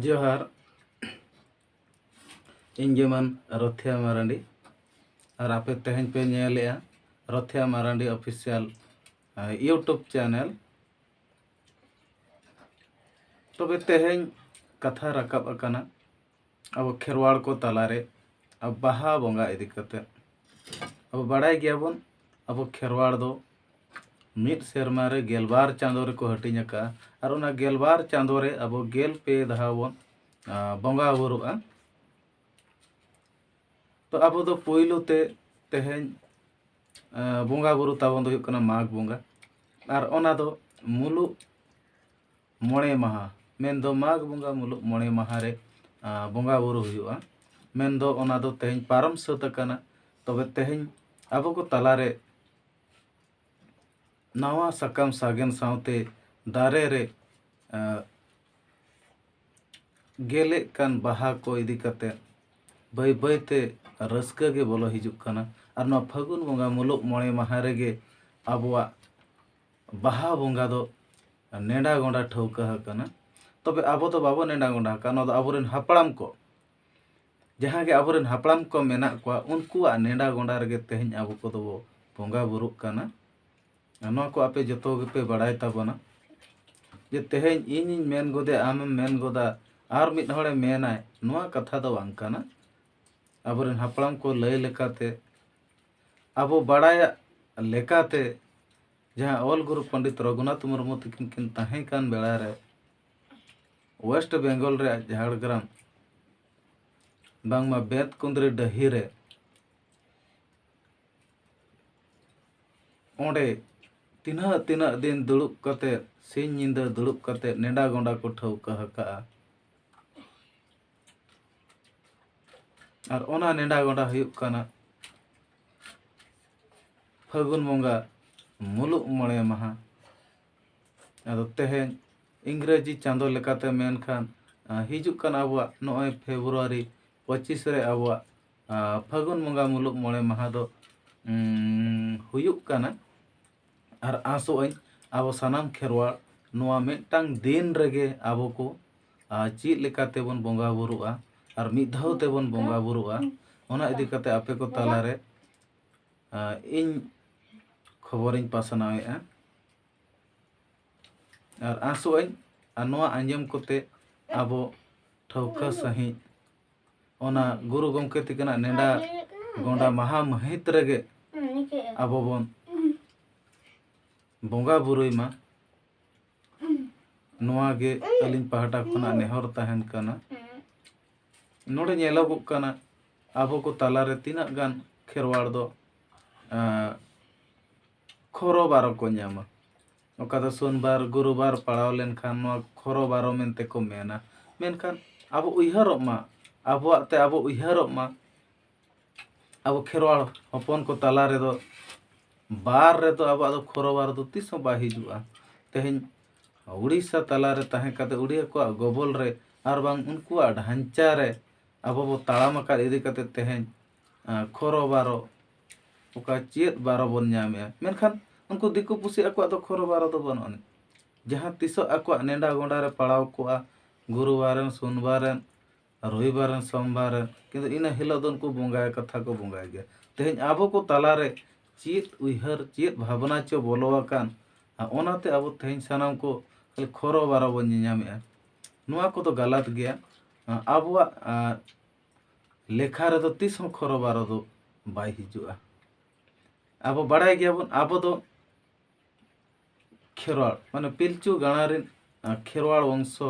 ᱡᱚᱦᱟᱨ ᱤᱧ ᱡᱮᱢᱚᱱ ᱨᱚᱛᱷᱤᱭᱟ ᱢᱟᱨᱟᱱᱰᱤ ᱟᱨ ᱟᱯᱮ ᱛᱮᱦᱮᱧ ᱯᱮ ᱧᱮᱞᱮᱜᱼᱟ Rothia Marandi official YouTube channel ᱛᱚᱵᱮ ᱛᱮᱦᱮᱧ ᱠᱟᱛᱷᱟ ᱨᱟᱠᱟᱵ ᱟᱠᱟᱱᱟ ᱟᱵᱚ ᱠᱷᱮᱨᱣᱟᱲ ᱠᱚ ᱛᱟᱞᱟᱨᱮ ᱟᱵᱚ ᱵᱟᱦᱟ ᱵᱚᱸᱜᱟ ᱤᱫᱤ ᱠᱟᱛᱮᱫ ᱟᱵᱚ ᱵᱟᱲᱟᱭ ᱜᱮᱭᱟᱵᱚᱱ ᱟᱵᱚ ᱠᱷᱮᱨᱣᱟᱲ ᱫᱚ ᱢᱤᱫ ᱥᱮᱨᱢᱟ ᱨᱮ ᱜᱮᱞᱵᱟᱨ ᱪᱟᱸᱫᱚ ᱨᱮᱠᱚ ᱦᱟᱹᱴᱤᱧ ᱟᱠᱟᱫᱼᱟ ᱟᱨ ᱚᱱᱟ ᱜᱮᱞᱵᱟᱨ ᱪᱟᱸᱫᱚ ᱨᱮ ᱟᱵᱚ ᱜᱮᱞ ᱯᱮ ᱫᱷᱟᱣ ᱵᱚᱱ ᱵᱚᱸᱜᱟ ᱵᱩᱨᱩᱜᱼᱟ ᱛᱚ ᱟᱵᱚ ᱫᱚ ᱯᱳᱭᱞᱳ ᱛᱮ ᱛᱮᱦᱮᱧ ᱵᱚᱸᱜᱟ ᱵᱩᱨᱩ ᱛᱟᱵᱚᱱ ᱫᱚ ᱦᱩᱭᱩᱜ ᱠᱟᱱᱟ ᱢᱟᱜᱽ ᱵᱚᱸᱜᱟ ᱟᱨ ᱚᱱᱟ ᱫᱚ ᱢᱩᱞᱩᱜ ᱢᱚᱬᱮ ᱢᱟᱦᱟ ᱢᱮᱱᱫᱚ ᱢᱟᱜᱽ ᱵᱚᱸᱜᱟ ᱢᱩᱞᱩᱜ ᱢᱚᱬᱮ ᱢᱟᱦᱟ ᱨᱮ ᱵᱚᱸᱜᱟ ᱵᱳᱨᱳ ᱦᱩᱭᱩᱜᱼᱟ ᱢᱮᱱᱫᱚ ᱚᱱᱟ ᱫᱚ ᱛᱮᱦᱮᱧ ᱯᱟᱨᱚᱢ ᱥᱟᱹᱛ ᱟᱠᱟᱱᱟ ᱛᱚᱵᱮ ᱛᱮᱦᱮᱧ ᱟᱵᱚ ᱠᱚ ᱛᱟᱞᱟᱨᱮ ᱱᱟᱣᱟ ᱥᱟᱠᱟᱢ ᱥᱟᱜᱮᱱ ᱥᱟᱶᱛᱮ ᱫᱟᱨᱮ ᱨᱮ ᱜᱮᱞᱮᱜ ᱠᱟᱱ ᱵᱟᱦᱟ ᱠᱚ ᱤᱫᱤ ᱠᱟᱛᱮ ᱵᱟᱹᱭ ᱵᱟᱹᱭ ᱛᱮ ᱨᱟᱹᱥᱠᱟᱹ ᱜᱮ ᱵᱚᱞᱚ ᱦᱤᱡᱩᱜ ᱠᱟᱱᱟ ᱟᱨ ᱱᱚᱣᱟ ᱯᱷᱟᱹᱜᱩᱱ ᱵᱚᱸᱜᱟ ᱢᱩᱞᱩᱜ ᱢᱚᱬᱮ ᱢᱟᱦᱟ ᱨᱮᱜᱮ ᱟᱵᱚᱣᱟᱜ ᱵᱟᱦᱟ ᱵᱚᱸᱜᱟ ᱫᱚ ᱱᱮᱰᱟ ᱜᱚᱸᱰᱟ ᱴᱷᱟᱹᱣᱠᱟᱹ ᱟᱠᱟᱱᱟ ᱛᱚᱵᱮ ᱟᱵᱚ ᱫᱚ ᱵᱟᱵᱚ ᱱᱮᱰᱟ ᱜᱚᱸᱰᱟ ᱟᱠᱟᱱᱟ ᱱᱚᱣᱟ ᱫᱚ ᱟᱵᱚᱨᱮᱱ ᱦᱟᱯᱲᱟᱢ ᱠᱚ ᱡᱟᱦᱟᱸ ᱜᱮ ᱟᱵᱚᱨᱮᱱ ᱦᱟᱯᱲᱟᱢ ᱠᱚ ᱢᱮᱱᱟᱜ ᱠᱚᱣᱟ ᱩᱱᱠᱩᱣᱟᱜ ᱱᱮᱰᱟ ᱜᱚᱸᱰᱟ ᱨᱮᱜᱮ ᱛᱮᱦᱮᱧ ᱟᱵᱚ ᱠᱚᱫᱚ ᱵᱚ ᱵᱚᱸᱜᱟ ᱵᱩᱨᱩᱜ ᱠᱟᱱᱟ ᱱᱚᱣᱟ ᱠᱚ ᱟᱯᱮ ᱡᱚᱛᱚ ᱜᱮᱯᱮ ᱵᱟᱲᱟᱭ ᱛᱟᱵᱚᱱᱟ ᱡᱮ ᱛᱮᱦᱮᱧ ᱤᱧᱤᱧ ᱢᱮᱱ ᱜᱚᱫᱮ ᱟᱢᱮᱢ ᱢᱮᱱ ᱜᱚᱫᱟ ᱟᱨ ᱢᱤᱫ ᱦᱚᱲᱮ ᱢᱮᱱᱟᱭ ᱱᱚᱣᱟ ᱠᱟᱛᱷᱟ ᱫᱚ ᱵᱟᱝ ᱠᱟᱱᱟ ᱟᱵᱚᱨᱮᱱ ᱦᱟᱯᱲᱟᱢ ᱠᱚ ᱞᱟᱹᱭ ᱞᱮᱠᱟᱛᱮ ᱟᱵᱚ ᱵᱟᱲᱟᱭᱟᱜ ᱞᱮᱠᱟᱛᱮ ᱡᱟᱦᱟᱸ ᱚᱞ ᱜᱩᱨᱩ ᱯᱚᱱᱰᱤᱛ ᱨᱚᱜᱷᱩᱱᱟᱛᱷ ᱢᱩᱨᱢᱩ ᱛᱟᱹᱠᱤᱱ ᱠᱤᱱ ᱛᱟᱦᱮᱸ ᱠᱟᱱ ᱵᱮᱲᱟ ᱨᱮ ᱳᱭᱮᱥᱴ ᱵᱮᱝᱜᱚᱞ ᱨᱮᱭᱟᱜ ᱡᱷᱟᱲᱜᱨᱟᱢ ᱵᱟᱝᱢᱟ ᱵᱮᱫ ᱠᱩᱸᱫᱽᱨᱤ ᱰᱟᱹᱦᱤ ᱨᱮ ᱚᱸᱰᱮ ᱛᱤᱱᱟᱹᱜ ᱛᱤᱱᱟᱹᱜ ᱫᱤᱱ ᱫᱩᱲᱩᱵ ᱠᱟᱛᱮ ᱥᱤᱧ ᱧᱤᱫᱟᱹ ᱫᱩᱲᱩᱵ ᱠᱟᱛᱮ ᱱᱮᱰᱟ ᱜᱚᱸᱰᱟ ᱠᱚ ᱴᱷᱟᱹᱣᱠᱟᱹ ᱟᱠᱟᱫᱼᱟ ᱟᱨ ᱚᱱᱟ ᱱᱮᱰᱟ ᱜᱚᱸᱰᱟ ᱦᱩᱭᱩᱜ ᱠᱟᱱᱟ ᱯᱷᱟᱹᱜᱩᱱ ᱵᱚᱸᱜᱟ ᱢᱩᱞᱩᱜ ᱢᱚᱬᱮ ᱢᱟᱦᱟ ᱟᱫᱚ ᱛᱮᱦᱮᱧ ᱤᱝᱨᱮᱡᱤ ᱪᱟᱸᱫᱚ ᱞᱮᱠᱟᱛᱮ ᱢᱮᱱᱠᱷᱟᱱ ᱦᱤᱡᱩᱜ ᱠᱟᱱ ᱟᱵᱚᱣᱟᱜ ᱱᱚᱜᱼᱚᱭ ᱯᱷᱮᱵᱨᱩᱣᱟᱨᱤ ᱯᱚᱸᱪᱤᱥ ᱨᱮ ᱟᱵᱚᱣᱟᱜ ᱯᱷᱟᱹᱜᱩᱱ ᱵᱚᱸᱜᱟ ᱢᱩᱞᱩᱜ ᱢᱚᱬᱮ ᱢᱟᱦᱟ ᱫᱚ ᱦᱩᱭᱩᱜ ᱠᱟᱱᱟ ᱟᱨ ᱟᱥᱚᱜ ᱟᱹᱧ ᱟᱵᱚ ᱥᱟᱱᱟᱢ ᱠᱷᱮᱨᱣᱟᱲ ᱱᱚᱣᱟ ᱢᱤᱫᱴᱟᱝ ᱫᱤᱱ ᱨᱮᱜᱮ ᱟᱵᱚ ᱠᱚ ᱪᱮᱫ ᱞᱮᱠᱟ ᱛᱮᱵᱚᱱ ᱵᱚᱸᱜᱟ ᱵᱳᱨᱳᱜᱼᱟ ᱟᱨ ᱢᱤᱫ ᱫᱷᱟᱣ ᱛᱮᱵᱚᱱ ᱵᱚᱸᱜᱟ ᱵᱳᱨᱳᱜᱼᱟ ᱚᱱᱟ ᱤᱫᱤ ᱠᱟᱛᱮ ᱟᱯᱮ ᱠᱚ ᱛᱟᱞᱟᱨᱮ ᱤᱧ ᱠᱷᱚᱵᱚᱨᱤᱧ ᱯᱟᱥᱱᱟᱣᱮᱫᱼᱟ ᱟᱨ ᱟᱥᱚᱜ ᱟᱹᱧ ᱟᱨ ᱱᱚᱣᱟ ᱟᱸᱡᱚᱢ ᱠᱟᱛᱮ ᱟᱵᱚ ᱴᱷᱟᱹᱣᱠᱟᱹ ᱥᱟᱺᱦᱤᱡ ᱚᱱᱟ ᱜᱩᱨᱩ ᱜᱚᱢᱠᱮ ᱛᱤᱠᱤᱱᱟᱜ ᱱᱮᱰᱟ ᱜᱚᱸᱰᱟ ᱢᱟᱦᱟ ᱢᱟᱹᱦᱤᱛ ᱨᱮᱜᱮ ᱟᱵᱚ ᱵᱚᱱ ᱵᱚᱸᱜᱟ ᱵᱩᱨᱩᱭ ᱢᱟ ᱱᱚᱣᱟ ᱜᱮ ᱟᱹᱞᱤᱧ ᱯᱟᱦᱴᱟ ᱠᱷᱚᱱᱟᱜ ᱱᱮᱦᱚᱨ ᱛᱟᱦᱮᱱ ᱠᱟᱱᱟ ᱱᱚᱰᱮ ᱧᱮᱞᱚᱜᱚᱜ ᱠᱟᱱᱟ ᱟᱵᱚ ᱠᱚ ᱛᱟᱞᱟᱨᱮ ᱛᱤᱱᱟᱹᱜ ᱜᱟᱱ ᱠᱷᱮᱨᱣᱟᱲ ᱫᱚ ᱠᱷᱚᱨᱚ ᱵᱟᱨᱚ ᱠᱚ ᱧᱟᱢᱟ ᱚᱠᱟ ᱫᱚ ᱥᱳᱢᱵᱟᱨ ᱜᱩᱨᱩᱵᱟᱨ ᱯᱟᱲᱟᱣ ᱞᱮᱱᱠᱷᱟᱱ ᱱᱚᱣᱟ ᱠᱷᱚᱨᱚ ᱵᱟᱨᱚ ᱢᱮᱱᱛᱮ ᱠᱚ ᱢᱮᱱᱟ ᱢᱮᱱᱠᱷᱟᱱ ᱟᱵᱚ ᱩᱭᱦᱟᱹᱨᱚᱜ ᱢᱟ ᱟᱵᱚᱣᱟᱜ ᱛᱮ ᱟᱵᱚ ᱩᱭᱦᱟᱹᱨᱚᱜ ᱢᱟ ᱟᱵᱚ ᱠᱷᱮᱨᱣᱟᱲ ᱦᱚᱯᱚᱱ ᱠᱚ ᱛᱟᱞᱟ ᱨᱮᱫᱚ ᱵᱟᱨ ᱨᱮᱫᱚ ᱟᱵᱚᱣᱟᱜ ᱫᱚ ᱠᱷᱚᱨᱚ ᱵᱟᱨ ᱫᱚ ᱛᱤᱥ ᱦᱚᱸ ᱵᱟᱭ ᱦᱤᱡᱩᱜᱼᱟ ᱛᱮᱦᱮᱧ ᱩᱲᱤᱥᱥᱟ ᱛᱟᱞᱟ ᱨᱮ ᱛᱟᱦᱮᱸ ᱠᱟᱛᱮ ᱩᱲᱤᱭᱟ ᱠᱚᱣᱟᱜ ᱜᱚᱵᱚᱞ ᱨᱮ ᱟᱨ ᱵᱟᱝ ᱩᱱᱠᱩᱣᱟᱜ ᱰᱷᱟᱧᱪᱟ ᱨᱮ ᱟᱵᱚ ᱵᱚ ᱛᱟᱲᱟᱢ ᱟᱠᱟᱫ ᱤᱫᱤ ᱠᱟᱛᱮ ᱛᱮᱦᱮᱧ ᱠᱷᱚᱨᱚ ᱵᱟᱨᱚ ᱚᱠᱟ ᱪᱮᱫ ᱵᱟᱨᱚ ᱵᱚᱱ ᱧᱟᱢᱮᱜᱼᱟ ᱢᱮᱱᱠᱷᱟᱱ ᱩᱱᱠᱩ ᱫᱤᱠᱩ ᱯᱩᱥᱤ ᱟᱠᱚᱣᱟᱜ ᱫᱚ ᱠᱷᱚᱨᱚ ᱵᱟᱨᱚ ᱫᱚ ᱵᱟᱹᱱᱩᱜ ᱟᱹᱱᱤᱡ ᱡᱟᱦᱟᱸ ᱛᱤᱥᱚᱜ ᱟᱠᱚᱣᱟᱜ ᱱᱮᱰᱟ ᱜᱚᱰᱟ ᱨᱮ ᱯᱟᱲᱟᱣ ᱠᱚᱜᱼᱟ ᱜᱩᱨᱩ ᱵᱟᱨᱮᱱ ᱥᱩᱱ ᱵᱟᱨᱮᱱ ᱨᱚᱵᱤ ᱵᱟᱨᱮᱱ ᱥᱚᱢ ᱵᱟᱨᱮᱱ ᱠᱤᱱᱛᱩ ᱤᱱᱟᱹ ᱦᱤᱞᱳᱜ ᱫᱚ ᱩᱱᱠᱩ ᱵᱚᱸᱜᱟ ᱠᱟᱛᱷᱟ ᱠᱚ ᱵᱚᱸᱜᱟᱭ ᱜᱮᱭᱟ ᱛᱮᱦᱮᱧ ᱟᱵᱚ ᱠᱚ ᱛᱟᱞᱟ ᱨᱮ ᱪᱮᱫ ᱩᱭᱦᱟᱹᱨ ᱪᱮᱫ ᱵᱷᱟᱵᱽᱱᱟ ᱪᱚ ᱵᱚᱞᱚ ᱟᱠᱟᱱ ᱟᱨ ᱚᱱᱟᱛᱮ ᱟᱵᱚ ᱛᱮᱦᱮᱧ ᱥᱟᱱᱟᱢ ᱠᱚ ᱠᱷᱟᱹᱞᱤ ᱠᱷᱚᱨᱚ ᱵᱟᱨᱚ ᱵᱚᱱ ᱧᱮᱧᱟᱢᱮᱜᱼᱟ ᱱᱚᱣᱟ ᱠᱚᱫᱚ ᱜᱟᱞᱟᱛ ᱜᱮᱭᱟ ᱟᱵᱚᱣᱟᱜ ᱞᱮᱠᱷᱟ ᱨᱮᱫᱚ ᱛᱤᱥ ᱦᱚᱸ ᱠᱷᱚᱨᱚ ᱵᱟᱨᱚ ᱫᱚ ᱵᱟᱭ ᱦᱤᱡᱩᱜᱼᱟ ᱟᱵᱚ ᱵᱟᱲᱟᱭ ᱜᱮᱭᱟᱵᱚᱱ ᱟᱵᱚ ᱫᱚ ᱠᱷᱮᱨᱣᱟᱲ ᱢᱟᱱᱮ ᱯᱤᱞᱪᱩ ᱜᱟᱲᱟ ᱨᱮᱱ ᱠᱷᱮᱨᱣᱟᱲ ᱵᱚᱝᱥᱚ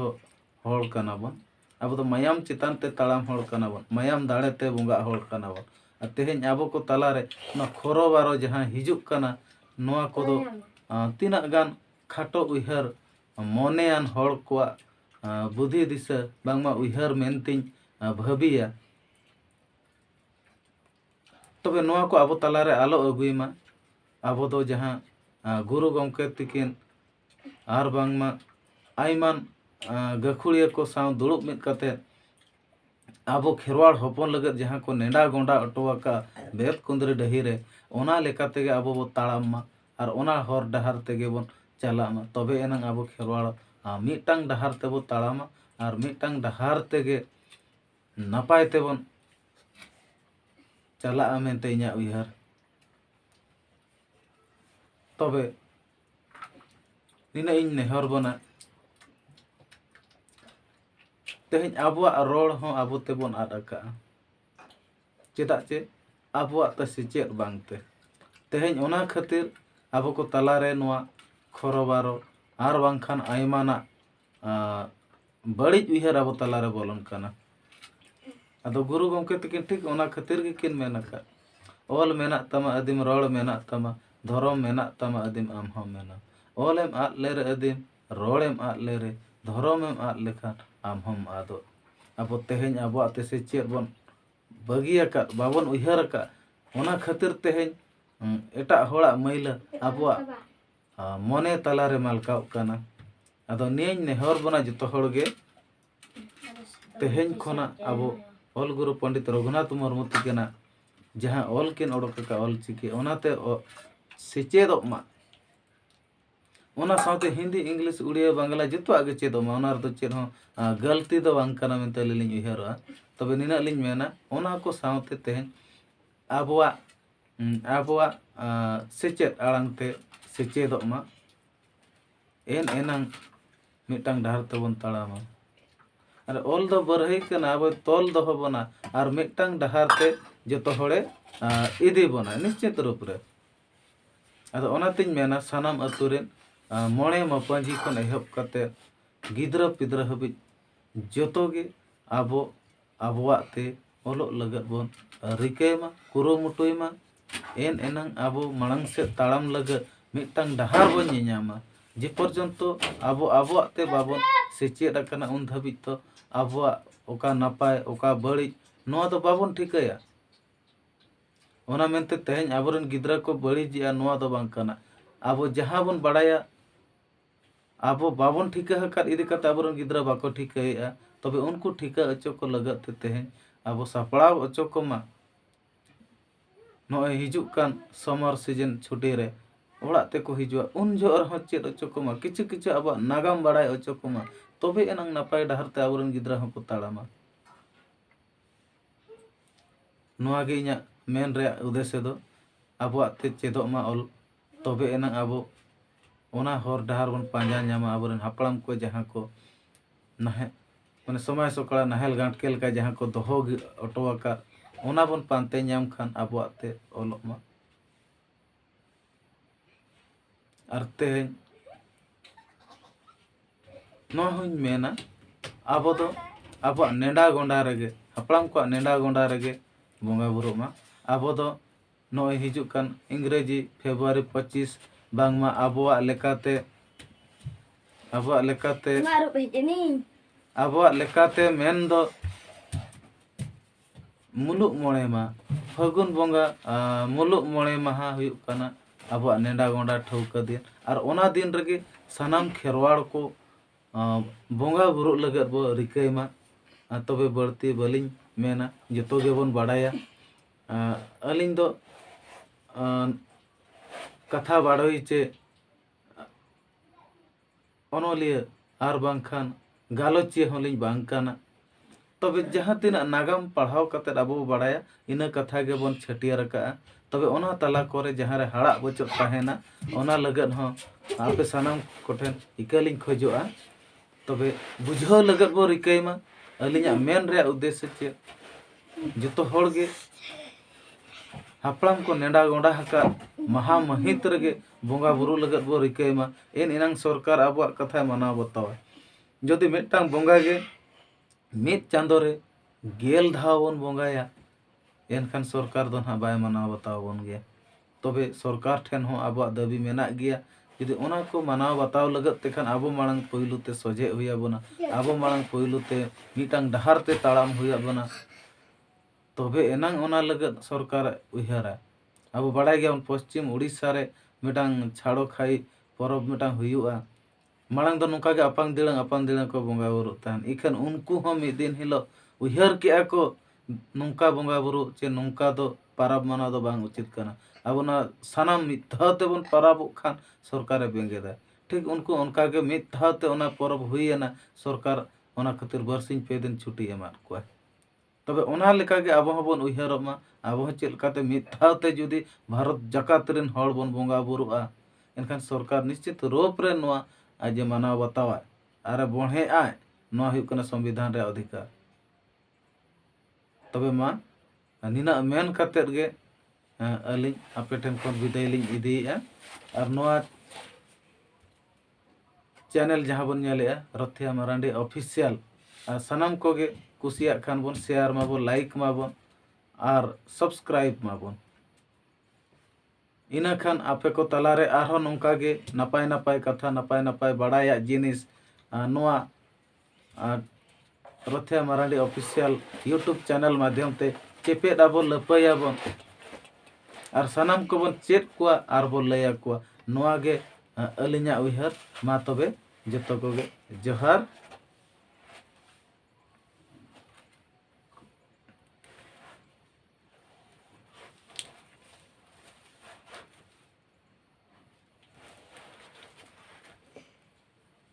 ᱦᱚᱲ ᱠᱟᱱᱟ ᱵᱚᱱ ᱟᱵᱚ ᱫᱚ ᱢᱟᱭᱟᱢ ᱪᱮᱛᱟᱱ ᱛᱮ ᱛᱟᱲᱟᱢ ᱦᱚᱲ ᱠᱟᱱᱟ ᱵᱚᱱ ᱢᱟᱭᱟᱢ ᱫᱟᱲᱮ ᱛᱮ ᱵᱚᱸᱜᱟᱜ ᱦᱚᱲ ᱠᱟᱱᱟ ᱵᱚᱱ ᱟᱨ ᱛᱮᱦᱮᱧ ᱟᱵᱚ ᱠᱚ ᱛᱟᱞᱟᱨᱮ ᱚᱱᱟ ᱠᱷᱚᱨᱚ ᱵᱟᱨᱚ ᱡᱟᱦᱟᱸ ᱦᱤᱡᱩᱜ ᱠᱟᱱᱟ ᱱᱚᱣᱟ ᱠᱚᱫᱚ ᱛᱤᱱᱟᱹᱜ ᱜᱟᱱ ᱠᱷᱟᱴᱚ ᱩᱭᱦᱟᱹᱨ ᱢᱚᱱᱮᱭᱟᱱ ᱦᱚᱲ ᱠᱚᱣᱟᱜ ᱵᱩᱫᱷᱤ ᱫᱤᱥᱟᱹ ᱵᱟᱝᱢᱟ ᱩᱭᱦᱟᱹᱨ ᱢᱮᱱᱛᱮᱧ ᱵᱷᱟᱹᱵᱤᱭᱟ ᱛᱚᱵᱮ ᱱᱚᱣᱟ ᱠᱚ ᱟᱵᱚ ᱛᱟᱞᱟᱨᱮ ᱟᱞᱚ ᱟᱹᱜᱩᱭ ᱢᱟ ᱟᱵᱚ ᱫᱚ ᱡᱟᱦᱟᱸ ᱜᱩᱨᱩ ᱜᱚᱢᱠᱮ ᱛᱤᱠᱤᱱ ᱟᱨ ᱵᱟᱝᱢᱟ ᱟᱭᱢᱟᱱ ᱜᱟᱹᱠᱷᱩᱲᱤᱭᱟᱹ ᱠᱚ ᱥᱟᱶ ᱫᱩᱲᱩᱵ ᱢᱤᱫ ᱠᱟᱛᱮ ᱟᱵᱚ ᱠᱷᱮᱨᱣᱟᱲ ᱦᱚᱯᱚᱱ ᱞᱟᱹᱜᱤᱫ ᱡᱟᱦᱟᱸ ᱠᱚ ᱱᱮᱰᱟ ᱜᱚᱸᱰᱟ ᱦᱚᱴᱚ ᱟᱠᱟᱫ ᱵᱮᱫ ᱠᱩᱸᱫᱽᱨᱤ ᱰᱟᱹᱦᱤ ᱨᱮ ᱚᱱᱟ ᱞᱮᱠᱟ ᱛᱮᱜᱮ ᱟᱵᱚ ᱵᱚ ᱛᱟᱲᱟᱢ ᱢᱟ ᱟᱨ ᱚᱱᱟ ᱦᱚᱨ ᱰᱟᱦᱟᱨ ᱛᱮᱜᱮ ᱵᱚᱱ ᱪᱟᱞᱟᱜ ᱢᱟ ᱛᱚᱵᱮ ᱮᱱᱟᱝ ᱟᱵᱚ ᱠᱷᱮᱨᱣᱟᱲ ᱢᱤᱫᱴᱟᱝ ᱰᱟᱦᱟᱨ ᱛᱮᱵᱚᱱ ᱛᱟᱲᱟᱢᱟ ᱟᱨ ᱢᱤᱫᱴᱟᱝ ᱰᱟᱦᱟᱨ ᱛᱮᱜᱮ ᱱᱟᱯᱟᱭ ᱛᱮᱵᱚᱱ ᱪᱟᱞᱟᱜᱼᱟ ᱢᱮᱱᱛᱮ ᱤᱧᱟᱹᱜ ᱩᱭᱦᱟᱹᱨ ᱛᱚᱵᱮ ᱱᱤᱱᱟᱹᱜ ᱤᱧ ᱱᱮᱦᱚᱨ ᱵᱚᱱᱟ ᱛᱮᱦᱮᱧ ᱟᱵᱚᱣᱟᱜ ᱨᱚᱲ ᱦᱚᱸ ᱟᱵᱚ ᱛᱮᱵᱚᱱ ᱟᱫ ᱟᱠᱟᱜᱼᱟ ᱪᱮᱫᱟᱜ ᱪᱮ ᱟᱵᱚᱣᱟᱜ ᱛᱮ ᱥᱮᱪᱮᱫ ᱵᱟᱝ ᱛᱮ ᱛᱮᱦᱮᱧ ᱚᱱᱟ ᱠᱷᱟᱹᱛᱤᱨ ᱟᱵᱚ ᱠᱚ ᱛᱟᱞᱟ ᱨᱮ ᱱᱚᱣᱟ ᱠᱷᱚᱨᱚ ᱵᱟᱨᱚ ᱟᱨ ᱵᱟᱝᱠᱷᱟᱱ ᱟᱭᱢᱟᱱᱟᱜ ᱵᱟᱹᱲᱤᱡ ᱩᱭᱦᱟᱹᱨ ᱟᱵᱚ ᱛᱟᱞᱟ ᱨᱮ ᱵᱚᱞᱚᱱ ᱠᱟᱱᱟ ᱟᱫᱚ ᱜᱩᱨᱩ ᱜᱚᱢᱠᱮ ᱛᱟᱹᱠᱤᱱ ᱴᱷᱤᱠ ᱚᱱᱟ ᱠᱷᱟᱹᱛᱤᱨ ᱜᱮᱠᱤᱱ ᱢᱮᱱ ᱟᱠᱟᱫ ᱚᱞ ᱢᱮᱱᱟᱜ ᱛᱟᱢᱟ ᱟᱹᱫᱤᱢ ᱨᱚᱲ ᱢᱮᱱᱟᱜ ᱛᱟᱢᱟ ᱫᱷᱚᱨᱚᱢ ᱢᱮᱱᱟᱜ ᱛᱟᱢᱟ ᱟᱹᱫᱤᱢ ᱟᱢ ᱦᱚᱸ ᱢᱮᱱᱟᱢ ᱚᱞᱮᱢ ᱟᱫ ᱞᱮᱨᱮ ᱟᱹᱫᱤᱢ ᱨᱚᱲ ᱮᱢ ᱟᱫ ᱞᱮ ᱨᱮ ᱫᱷᱚᱨᱚᱢ ᱮᱢ ᱟᱫ ᱞᱮᱠᱷᱟᱱ ᱟᱢ ᱦᱚᱢ ᱟᱫᱚᱜ ᱟᱵᱚ ᱛᱮᱦᱮᱧ ᱟᱵᱚᱣᱟᱜ ᱛᱮ ᱥᱮᱪᱮᱫ ᱵᱚᱱ ᱵᱟᱹᱜᱤ ᱟᱠᱟᱫ ᱵᱟᱵᱚᱱ ᱩᱭᱦᱟᱹᱨ ᱟᱠᱟᱫ ᱚᱱᱟ ᱠᱷᱟᱹᱛᱤᱨ ᱛᱮᱦᱮᱧ ᱮᱴᱟᱜ ᱦᱚᱲᱟᱜ ᱢᱟᱹᱭᱞᱟᱹ ᱟᱵᱚᱣᱟᱜ ᱢᱚᱱᱮ ᱛᱟᱞᱟ ᱨᱮ ᱢᱟᱞᱠᱟᱣᱚᱜ ᱠᱟᱱᱟ ᱟᱫᱚ ᱱᱤᱭᱟᱹᱧ ᱱᱮᱦᱚᱨ ᱵᱚᱱᱟ ᱡᱚᱛᱚ ᱦᱚᱲ ᱜᱮ ᱛᱮᱦᱮᱧ ᱠᱷᱚᱱᱟᱜ ᱟᱵᱚ ᱚᱞ ᱜᱩᱨᱩ ᱯᱚᱱᱰᱤᱛ ᱨᱚᱜᱷᱩᱱᱟᱛᱷ ᱢᱩᱨᱢᱩ ᱛᱤᱠᱤᱱᱟᱜ ᱡᱟᱦᱟᱸ ᱚᱞ ᱠᱤᱱ ᱚᱰᱚᱠ ᱟᱠᱟᱫ ᱚᱞ ᱪᱤᱠᱤ ᱚᱱᱟᱛᱮ ᱥᱮᱪᱮᱫᱚᱜ ᱢᱟ ᱚᱱᱟ ᱥᱟᱶᱛᱮ ᱦᱤᱱᱫᱤ ᱤᱝᱞᱤᱥ ᱩᱲᱤᱭᱟ ᱵᱟᱝᱞᱟ ᱡᱚᱛᱚᱣᱟᱜ ᱜᱮ ᱪᱮᱫᱚᱜ ᱢᱟ ᱚᱱᱟ ᱨᱮᱫᱚ ᱪᱮᱫ ᱦᱚᱸ ᱜᱟᱹᱞᱛᱤ ᱫᱚ ᱵᱟᱝ ᱠᱟᱱᱟ ᱢᱮᱱᱛᱮ ᱟᱹᱞᱤᱧ ᱞᱤᱧ ᱩᱭᱦᱟᱹᱨᱚᱜᱼᱟ ᱛᱚᱵᱮ ᱱᱤᱱᱟᱹᱜ ᱞᱤᱧ ᱢᱮᱱᱟ ᱚᱱᱟ ᱠᱚ ᱥᱟᱶᱛᱮ ᱛᱮᱦᱮᱧ ᱟᱵᱚᱣᱟᱜ ᱟᱵᱚᱣᱟᱜ ᱥᱮᱪᱮᱫ ᱟᱲᱟᱝ ᱛᱮ ᱥᱮᱪᱮᱫᱚᱜ ᱢᱟ ᱮᱱ ᱮᱱᱟᱝ ᱢᱤᱫᱴᱟᱝ ᱰᱟᱦᱟᱨ ᱛᱮᱵᱚᱱ ᱛᱟᱲᱟᱢᱟ ᱟᱨ ᱚᱞ ᱫᱚ ᱵᱟᱹᱨᱦᱟᱹᱭ ᱠᱟᱱᱟ ᱟᱵᱚ ᱛᱚᱞ ᱫᱚᱦᱚ ᱵᱚᱱᱟ ᱟᱨ ᱢᱤᱫᱴᱟᱝ ᱰᱟᱦᱟᱨ ᱛᱮ ᱡᱚᱛᱚ ᱦᱚᱲᱮ ᱤᱫᱤ ᱵᱚᱱᱟ ᱱᱤᱥᱪᱤᱛ ᱨᱩᱯ ᱨᱮ ᱟᱫᱚ ᱚᱱᱟᱛᱮᱧ ᱢᱮᱱᱟ ᱥᱟᱱᱟᱢ ᱟᱹᱛᱩ ᱨᱮᱱ ᱢᱚᱬᱮ ᱢᱟᱯᱟᱹᱡᱷᱤ ᱠᱷᱚᱱ ᱮᱦᱚᱵ ᱠᱟᱛᱮᱫ ᱜᱤᱫᱽᱨᱟᱹ ᱯᱤᱫᱽᱨᱟᱹ ᱦᱟᱹᱵᱤᱡ ᱡᱚᱛᱚ ᱜᱮ ᱟᱵᱚ ᱟᱵᱚᱣᱟᱜ ᱛᱮ ᱚᱞᱚᱜ ᱞᱟᱹᱜᱤᱫ ᱵᱚᱱ ᱨᱤᱠᱟᱹᱭ ᱢᱟ ᱠᱩᱨᱩᱢᱩᱴᱩᱭ ᱢᱟ ᱮᱱ ᱮᱱᱟᱝ ᱟᱵᱚ ᱢᱟᱲᱟᱝ ᱥᱮᱫ ᱛᱟᱲᱟᱢ ᱞᱟᱹᱜᱤᱫ ᱢᱤᱫᱴᱟᱝ ᱰᱟᱦᱟᱨ ᱵᱚᱱ ᱧᱮᱧᱟᱢᱟ ᱡᱮ ᱯᱚᱨᱡᱚᱱᱛᱚ ᱟᱵᱚ ᱟᱵᱚᱣᱟᱜ ᱛᱮ ᱵᱟᱵᱚᱱ ᱥᱮᱪᱮᱫ ᱟᱠᱟᱱᱟ ᱩᱱ ᱫᱷᱟᱹᱵᱤᱡ ᱫᱚ ᱟᱵᱚᱣᱟᱜ ᱚᱠᱟ ᱱᱟᱯᱟᱭ ᱚᱠᱟ ᱵᱟᱹᱲᱤᱡ ᱱᱚᱣᱟ ᱫᱚ ᱵᱟᱵᱚᱱ ᱴᱷᱤᱠᱟᱹᱭᱟ ᱚᱱᱟ ᱢᱮᱱᱛᱮ ᱛᱮᱦᱮᱧ ᱟᱵᱚᱨᱮᱱ ᱜᱤᱫᱽᱨᱟᱹ ᱠᱚ ᱵᱟᱹᱲᱤᱡᱮᱜᱼᱟ ᱱᱚᱣᱟ ᱫᱚ ᱵᱟᱝ ᱠᱟᱱᱟ ᱟᱵᱚ ᱡᱟᱦᱟᱸ ᱵᱚᱱ ᱵᱟᱲᱟᱭᱟ ᱟᱵᱚ ᱵᱟᱵᱚᱱ ᱴᱷᱤᱠᱟᱹ ᱟᱠᱟᱫ ᱤᱫᱤ ᱠᱟᱛᱮᱫ ᱟᱵᱚᱨᱮᱱ ᱜᱤᱫᱽᱨᱟᱹ ᱵᱟᱠᱚ ᱴᱷᱤᱠᱟᱹᱭᱮᱜᱼᱟ ᱛᱚᱵᱮ ᱩᱱᱠᱩ ᱴᱷᱤᱠᱟᱹ ᱦᱚᱪᱚ ᱠᱚ ᱞᱟᱹᱜᱤᱫ ᱛᱮ ᱛᱮᱦᱮᱧ ᱟᱵᱚ ᱥᱟᱯᱲᱟᱣ ᱦᱚᱪᱚ ᱠᱚᱢᱟ ᱱᱚᱜᱼᱚᱭ ᱦᱤᱡᱩᱜ ᱠᱟᱱ ᱥᱟᱢᱟᱨ ᱥᱤᱡᱤᱱ ᱪᱷᱩᱴᱤ ᱨᱮ ᱚᱲᱟᱜ ᱛᱮᱠᱚ ᱦᱤᱡᱩᱜᱼᱟ ᱩᱱ ᱡᱚᱦᱚᱜ ᱨᱮᱦᱚᱸ ᱪᱮᱫ ᱦᱚᱪᱚ ᱠᱚᱢᱟ ᱠᱤᱪᱷᱩ ᱠᱤᱪᱷᱩ ᱟᱵᱚᱣᱟᱜ ᱱᱟᱜᱟᱢ ᱵᱟᱲᱟᱭ ᱦᱚᱪᱚ ᱠᱚᱢᱟ ᱛᱚᱵᱮ ᱮᱱᱟᱝ ᱱᱟᱯᱟᱭ ᱰᱟᱦᱟᱨ ᱛᱮ ᱟᱵᱚᱨᱮᱱ ᱜᱤᱫᱽᱨᱟᱹ ᱦᱚᱸᱠᱚ ᱛᱟᱲᱟᱢᱟ ᱱᱚᱣᱟ ᱜᱮ ᱤᱧᱟᱹᱜ ᱢᱮᱱ ᱨᱮᱭᱟᱜ ᱩᱫᱮᱥᱥᱚ ᱫᱚ ᱟᱵᱚᱣᱟᱜ ᱛᱮ ᱪᱮᱫᱚᱜ ᱢᱟ ᱚᱞ ᱛᱚᱵᱮ ᱮᱱᱟᱝ ᱟᱵᱚ ᱚᱱᱟ ᱦᱚᱨ ᱰᱟᱦᱟᱨ ᱵᱚᱱ ᱯᱟᱸᱡᱟ ᱧᱟᱢᱟ ᱟᱵᱚᱨᱮᱱ ᱦᱟᱯᱲᱟᱢ ᱠᱚ ᱡᱟᱦᱟᱸ ᱠᱚ ᱱᱟᱦᱮᱞ ᱢᱟᱱᱮ ᱥᱚᱢᱟᱭ ᱥᱚᱠᱲᱟ ᱱᱟᱦᱮᱞ ᱜᱟᱸᱴᱠᱮᱞ ᱞᱮᱠᱟ ᱡᱟᱦᱟᱸ ᱠᱚ ᱫᱚᱦᱚ ᱦᱚᱴᱚ ᱟᱠᱟᱫ ᱚᱱᱟ ᱵᱚᱱ ᱯᱟᱱᱛᱮ ᱧᱟᱢ ᱠᱷᱟᱱ ᱟᱵᱚᱣᱟᱜ ᱛᱮ ᱚᱞᱚᱜ ᱢᱟ ᱟᱨ ᱛᱮᱦᱮᱧ ᱱᱚᱣᱟ ᱦᱚᱧ ᱢᱮᱱᱟ ᱟᱵᱚ ᱫᱚ ᱟᱵᱚᱣᱟᱜ ᱱᱮᱰᱟ ᱜᱚᱸᱰᱟ ᱨᱮᱜᱮ ᱦᱟᱯᱲᱟᱢ ᱠᱚᱣᱟᱜ ᱱᱮᱰᱟ ᱜᱚᱸᱰᱟ ᱨᱮᱜᱮ ᱵᱚᱸᱜᱟ ᱵᱩᱨᱩᱜ ᱢᱟ ᱟᱵᱚ ᱫᱚ ᱱᱚᱜᱼᱚᱭ ᱦᱤᱡᱩᱜ ᱠᱟᱱ ᱤᱝᱨᱮᱡᱤ ᱯᱷᱮᱵᱽᱨᱩᱣᱟᱨᱤ ᱯᱚᱸᱪᱤᱥ ᱵᱟᱝᱢᱟ ᱟᱵᱚᱣᱟᱜ ᱞᱮᱠᱟᱛᱮ ᱟᱵᱚᱣᱟᱜ ᱞᱮᱠᱟᱛᱮ ᱟᱵᱚᱣᱟᱜ ᱞᱮᱠᱟᱛᱮ ᱢᱮᱱ ᱫᱚ ᱢᱩᱞᱩᱜ ᱢᱚᱬᱮ ᱢᱟᱦᱟ ᱯᱷᱟᱹᱜᱩᱱ ᱵᱚᱸᱜᱟ ᱢᱩᱞᱩᱜ ᱢᱚᱬᱮ ᱢᱟᱦᱟ ᱦᱩᱭᱩᱜ ᱠᱟᱱᱟ ᱟᱵᱚᱣᱟᱜ ᱱᱮᱰᱟ ᱜᱚᱸᱰᱟ ᱴᱷᱟᱹᱣᱠᱟᱹ ᱫᱤᱱ ᱟᱨ ᱚᱱᱟ ᱫᱤᱱ ᱨᱮᱜᱮ ᱥᱟᱱᱟᱢ ᱠᱷᱮᱨᱣᱟᱲ ᱠᱚ ᱵᱚᱸᱜᱟ ᱵᱩᱨᱩᱜ ᱞᱟᱹᱜᱤᱫ ᱵᱚᱱ ᱨᱤᱠᱟᱹᱭ ᱢᱟ ᱟᱨ ᱛᱚᱵᱮ ᱵᱟᱹᱲᱛᱤ ᱵᱟᱹᱞᱤᱧ ᱢᱮᱱᱟ ᱡᱚᱛᱚ ᱜᱮᱵᱚᱱ ᱵᱟᱰᱟᱭᱟ ᱟᱹᱞᱤᱧ ᱫᱚ ᱠᱟᱛᱷᱟ ᱵᱟᱰᱳᱦᱤ ᱪᱮ ᱚᱱᱚᱞᱤᱭᱟᱹ ᱟᱨ ᱵᱟᱝᱠᱷᱟᱱ ᱜᱟᱞᱚᱪᱤᱭᱟᱹ ᱦᱚᱸ ᱞᱤᱧ ᱵᱟᱝ ᱠᱟᱱᱟ ᱛᱚᱵᱮ ᱡᱟᱦᱟᱸ ᱛᱤᱱᱟᱹᱜ ᱱᱟᱜᱟᱢ ᱯᱟᱲᱦᱟᱣ ᱠᱟᱛᱮ ᱟᱵᱚ ᱵᱚ ᱵᱟᱲᱟᱭᱟ ᱤᱱᱟᱹ ᱠᱟᱛᱷᱟ ᱜᱮᱵᱚᱱ ᱪᱷᱟᱹᱴᱭᱟᱹᱨ ᱟᱠᱟᱫᱼᱟ ᱛᱚᱵᱮ ᱚᱱᱟ ᱛᱟᱞᱟ ᱠᱚᱨᱮ ᱡᱟᱦᱟᱸ ᱨᱮ ᱦᱟᱲᱟᱜ ᱵᱚᱪᱚᱜ ᱛᱟᱦᱮᱱᱟ ᱚᱱᱟ ᱞᱟᱹᱜᱤᱫ ᱦᱚᱸ ᱟᱯᱮ ᱥᱟᱱᱟᱢ ᱠᱚᱴᱷᱮᱱ ᱤᱠᱟᱹ ᱞᱤᱧ ᱠᱷᱚᱡᱚᱜᱼᱟ ᱛᱚᱵᱮ ᱵᱩᱡᱷᱟᱹᱣ ᱞᱟᱹᱜᱤᱫ ᱵᱚ ᱨᱤᱠᱟᱹᱭ ᱢᱟ ᱟᱹᱞᱤᱧᱟᱜ ᱢᱮᱱ ᱨᱮᱭᱟᱜ ᱩᱫᱽᱫᱮᱥᱥᱚ ᱪᱮᱫ ᱡᱚᱛᱚ ᱦᱚᱲ ᱜᱮ ᱦᱟᱯᱲᱟᱢ ᱠᱚ ᱱᱮᱰᱟ ᱜᱚᱸᱰᱟ ᱟᱠᱟᱫ ᱢᱟᱦᱟ ᱢᱟᱹᱦᱤᱛ ᱨᱮᱜᱮ ᱵᱚᱸᱜᱟ ᱵᱩᱨᱩ ᱞᱟᱹᱜᱤᱫ ᱵᱚ ᱨᱤᱠᱟᱹᱭ ᱢᱟ ᱮᱱ ᱮᱱᱟᱝ ᱥᱚᱨᱠᱟᱨ ᱟᱵᱚᱣᱟᱜ ᱠᱟᱛᱷᱟᱭ ᱢᱟᱱᱟᱣ ᱵᱟᱛᱟᱣᱟ ᱡᱩᱫᱤ ᱢᱤᱫᱴᱟᱝ ᱵᱚᱸᱜᱟ ᱜᱮ ᱢᱤᱫ ᱪᱟᱸᱫᱚ ᱨᱮ ᱜᱮᱞ ᱫᱷᱟᱣ ᱵᱚᱱ ᱵᱚᱸᱜᱟᱭᱟ ᱮᱱᱠᱷᱟᱱ ᱥᱚᱨᱠᱟᱨ ᱫᱚ ᱱᱟᱦᱟᱜ ᱵᱟᱭ ᱢᱟᱱᱟᱣ ᱵᱟᱛᱟᱣ ᱵᱚᱱ ᱜᱮᱭᱟ ᱛᱚᱵᱮ ᱥᱚᱨᱠᱟᱨ ᱴᱷᱮᱱ ᱦᱚᱸ ᱟᱵᱚᱣᱟᱜ ᱫᱟᱹᱵᱤ ᱢᱮᱱᱟᱜ ᱜᱮᱭᱟ ᱡᱩᱫᱤ ᱚᱱᱟ ᱠᱚ ᱢᱟᱱᱟᱣ ᱵᱟᱛᱟᱣ ᱞᱟᱹᱜᱤᱫ ᱛᱮᱠᱷᱟᱱ ᱟᱵᱚ ᱢᱟᱲᱟᱝ ᱯᱳᱭᱞᱳ ᱛᱮ ᱥᱚᱡᱷᱮᱜ ᱦᱩᱭ ᱟᱵᱚᱱᱟ ᱟᱵᱚ ᱢᱟᱲᱟᱝ ᱯᱳᱭᱞᱳ ᱛᱮ ᱢᱤᱫᱴᱟᱝ ᱰᱟᱦᱟᱨ ᱛᱮ ᱛᱟᱲᱟᱢ ᱦᱩᱭ ᱟᱵᱚᱱᱟ ᱛᱚᱵᱮ ᱮᱱᱟᱝ ᱚᱱᱟ ᱞᱟᱹᱜᱤᱫ ᱥᱚᱨᱠᱟᱨᱮ ᱩᱭᱦᱟᱹᱨᱟ ᱟᱵᱚ ᱵᱟᱲᱟᱭ ᱜᱮᱭᱟᱵᱚᱱ ᱯᱚᱥᱪᱤᱢ ᱩᱲᱤᱥᱥᱟ ᱨᱮ ᱢᱤᱫᱴᱟᱝ ᱪᱷᱟᱲᱚ ᱠᱷᱟᱭ ᱯᱚᱨᱚᱵᱽ ᱢᱤᱫᱴᱟᱝ ᱦᱩᱭᱩᱜᱼᱟ ᱢᱟᱲᱟᱝ ᱫᱚ ᱱᱚᱝᱠᱟ ᱜᱮ ᱟᱯᱟᱝ ᱫᱤᱲᱟᱹ ᱟᱯᱟᱝ ᱫᱤᱲᱟᱹ ᱠᱚ ᱵᱚᱸᱜᱟ ᱵᱩᱨᱩᱜ ᱛᱟᱦᱮᱱ ᱤᱠᱷᱟᱹᱱ ᱩᱱᱠᱩ ᱦᱚᱸ ᱢᱤᱫ ᱫᱤᱱ ᱦᱤᱞᱳᱜ ᱩᱭᱦᱟᱹᱨ ᱠᱮᱜᱼᱟ ᱠᱚ ᱱᱚᱝᱠᱟ ᱵᱚᱸᱜᱟ ᱵᱩᱨᱩ ᱥᱮ ᱱᱚᱝᱠᱟ ᱫᱚ ᱯᱚᱨᱚᱵᱽ ᱢᱟᱱᱟᱣ ᱫᱚ ᱵᱟᱝ ᱩᱪᱤᱛ ᱠᱟᱱᱟ ᱟᱵᱚ ᱱᱚᱣᱟ ᱥᱟᱱᱟᱢ ᱢᱤᱫ ᱫᱷᱟᱣ ᱛᱮᱵᱚᱱ ᱯᱚᱨᱚᱵᱚᱜ ᱠᱷᱟᱱ ᱥᱚᱨᱠᱟᱨᱮ ᱵᱮᱸᱜᱮᱫᱟ ᱴᱷᱤᱠ ᱩᱱᱠᱩ ᱚᱱᱠᱟ ᱜᱮ ᱢᱤᱫ ᱫᱷᱟᱣ ᱛᱮ ᱚᱱᱟ ᱯᱚᱨᱚᱵᱽ ᱦᱩᱭᱮᱱᱟ ᱥᱚᱨᱠᱟᱨ ᱚᱱᱟ ᱠᱷᱟᱹᱛᱤᱨ ᱵᱟᱨᱥᱤᱧ ᱯᱮ ᱫᱤᱱ ᱪᱷᱩᱴᱤ ᱮᱢᱟᱫ ᱠᱚᱣᱟᱭ ᱛᱚᱵᱮ ᱚᱱᱟ ᱞᱮᱠᱟ ᱜᱮ ᱟᱵᱚ ᱦᱚᱸᱵᱚᱱ ᱩᱭᱦᱟᱹᱨᱚᱜ ᱢᱟ ᱟᱵᱚ ᱦᱚᱸ ᱪᱮᱫ ᱞᱮᱠᱟᱛᱮ ᱢᱤᱫ ᱫᱷᱟᱣ ᱛᱮ ᱡᱩᱫᱤ ᱵᱷᱟᱨᱚᱛ ᱡᱟᱠᱟᱛ ᱨᱮᱱ ᱦᱚᱲ ᱵᱚᱱ ᱵᱚᱸᱜᱟ ᱵᱩᱨᱩᱜᱼᱟ ᱮᱱᱠᱷᱟᱱ ᱥᱚᱨᱠᱟᱨ ᱱᱤᱥᱪᱤᱛ ᱨᱩᱯ ᱨᱮ ᱱᱚᱣᱟ ᱟᱡ ᱮ ᱢᱟᱱᱟᱣ ᱵᱟᱛᱟᱣᱟ ᱟᱨᱮ ᱵᱚᱲᱦᱮ ᱟᱭ ᱱᱚᱣᱟ ᱦᱩᱭᱩᱜ ᱠᱟᱱᱟ ᱥᱚᱝᱵᱤᱫᱷᱟᱱ ᱨᱮᱭᱟᱜ ᱚᱫᱷᱤᱠᱟᱨ ᱛᱚᱵᱮ ᱢᱟ ᱱᱤᱱᱟᱹᱜ ᱢᱮᱱ ᱠᱟᱛᱮᱫ ᱜᱮ ᱟᱹᱞᱤᱧ ᱟᱯᱮ ᱴᱷᱮᱱ ᱠᱷᱚᱱ ᱵᱤᱫᱟᱹᱭ ᱞᱤᱧ ᱤᱫᱤᱭᱮᱜᱼᱟ ᱟᱨ ᱱᱚᱣᱟ ᱪᱮᱱᱮᱞ ᱡᱟᱦᱟᱸ ᱵᱚᱱ ᱧᱮᱞᱮᱜᱼᱟ ᱨᱚᱛᱷᱤᱭᱟ ᱢᱟᱨᱟᱱᱰᱤ ᱚᱯᱷᱤᱥᱤᱭᱟᱞ ᱟᱨ ᱥᱟᱱᱟᱢ ᱠᱚᱜᱮ ᱠᱩᱥᱤᱭᱟᱜ ᱠᱷᱟᱱ ᱵᱚᱱ ᱥᱮᱭᱟᱨ ᱢᱟᱵᱚᱱ ᱞᱟᱭᱤᱠ ᱢᱟᱵᱚᱱ ᱟᱨ ᱥᱟᱵᱥᱠᱨᱟᱭᱤᱵ ᱢᱟᱵᱚᱱ ᱤᱱᱟᱹ ᱠᱷᱟᱱ ᱟᱯᱮ ᱠᱚ ᱛᱟᱞᱟᱨᱮ ᱟᱨᱦᱚᱸ ᱱᱚᱝᱠᱟ ᱜᱮ ᱱᱟᱯᱟᱭ ᱱᱟᱯᱟᱭ ᱠᱟᱛᱷᱟ ᱱᱟᱯᱟᱭ ᱱᱟᱯᱟᱭ ᱵᱟᱲᱟᱭᱟᱜ ᱡᱤᱱᱤᱥ ᱱᱚᱣᱟ ᱟᱨ Rothia Marandi official YouTube channel ᱢᱟᱫᱽᱫᱷᱚᱢ ᱛᱮ ᱪᱮᱯᱮᱫ ᱟᱵᱚᱱ ᱞᱟᱹᱯᱟᱹᱭᱟᱵᱚᱱ ᱟᱨ ᱥᱟᱱᱟᱢ ᱠᱚᱵᱚᱱ ᱪᱮᱫ ᱠᱚᱣᱟ ᱟᱨ ᱵᱚᱱ ᱞᱟᱹᱭ ᱟᱠᱚᱣᱟ ᱱᱚᱣᱟ ᱜᱮ ᱟᱹᱞᱤᱧᱟᱜ ᱩᱭᱦᱟᱹᱨ ᱢᱟ ᱛᱚᱵᱮ ᱡᱚᱛᱚ ᱠᱚᱜᱮ ᱡᱚᱦᱟᱨ